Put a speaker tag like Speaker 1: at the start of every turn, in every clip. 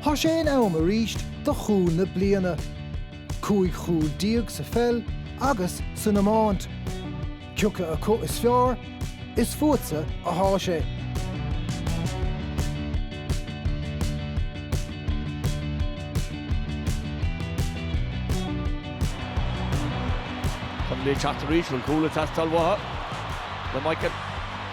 Speaker 1: Tá sé in am arís do chúl na bliana. Cúig chúl déag sa pheil agus san iomáint. Ciaca acu is fearr, is fútsa atá sé. Chun le teacht arís, bhfuil cúl ag teastáil uathu le Michael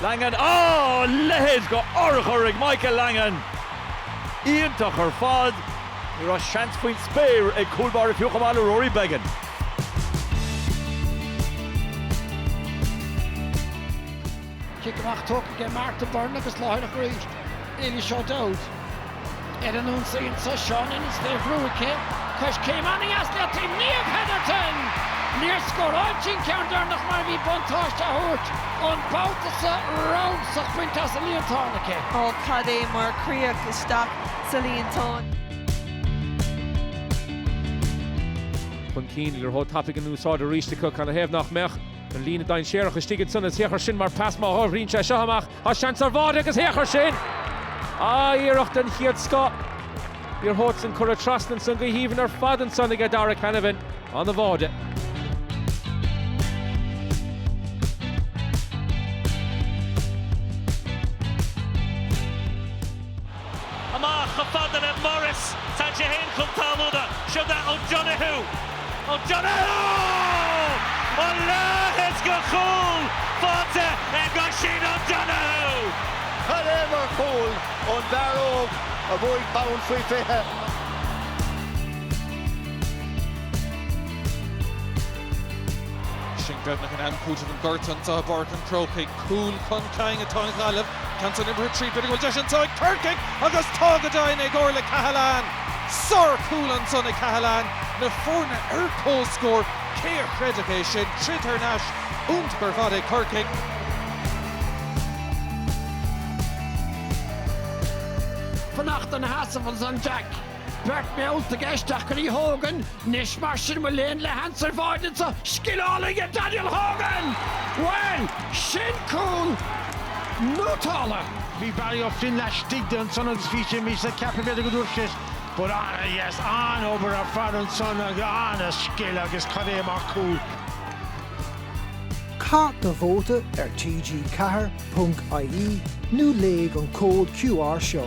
Speaker 1: Langan. Á, leithéid de urchar ag Michael Langan! Iontach ar fad! Ní raibh seans faoin spéir ag cúl báire fiú chomh maith le Rory Beggan. Cic amach tugtha ag Martha Byrne agus láithreach arís Eilís O'Dowd. Ar an ionsaí anseo, Seo anois, leabhar aici, coiscéim an-dheas le taobh Niamh Hetherton! Níor scóráil sí an ceann deireanach mar bhí buntáiste á thabhairt an babhta seo ramsach bainte as an líontán aici. Ó, cad é mar chríoch isteach sa líontán! chun cinn le rutha tapaidh in úsáid arís acu. Canathaobh nach mbeadh? An líne dainséarach istigh ansan is, féach air sin mar pas má shaothraíonn sé seo amach, tá seans ar bháide agus féach air sin! Ah, iarracht den chéad scoth. An tarna san cuireadh trasna ansan go haoibhinn ar fad ansan aige Darragh Canavan. Ana-bháide. Amach chomh fada le Morris, tá sé féin chun talmhana, seo go O'Donoghue! O'Donoghue! A leithéid de chúl faighte ag Oisín O'Donoghue! Cad é mar chúl ón bhfear óg a bhuaigh bonn faoi 20. Sin deimhnithe in am cúitimh an ghortaithe, an dath borrach an Chrócaigh, cúl chun cinn atá an Ghaillimh Johnson imithe tríd, b'fhéidir go bhfuil deis anseo ag Corcaigh agus tá go deimhin ag Orlaith Cahalane! Sár-chúl anseo ag Cahalane, na foirne ar comhscór, cé a chreidfeadh é sin? Troid ar ais, iontach ar fad ag Corcaigh. Fanacht na sheasamh ansan Jack. Beirt mheallta i gceist ach ní thógann anois mar sin mo léan le hanswer bháid ana scil álainn Daniel Hogan! Bhuel, sin cúl nútála! Bhí Barry Ó Floinn laistigh de ansan agus bhíos-sa ag ceapadh b'fhéidir go dúirt sé but ana-dheas, an-obair ar fad ansan agus ana scil agus cad é mar chúl. Caith do vóta ar TG 4 punc IE nó léigh an cód QR seo.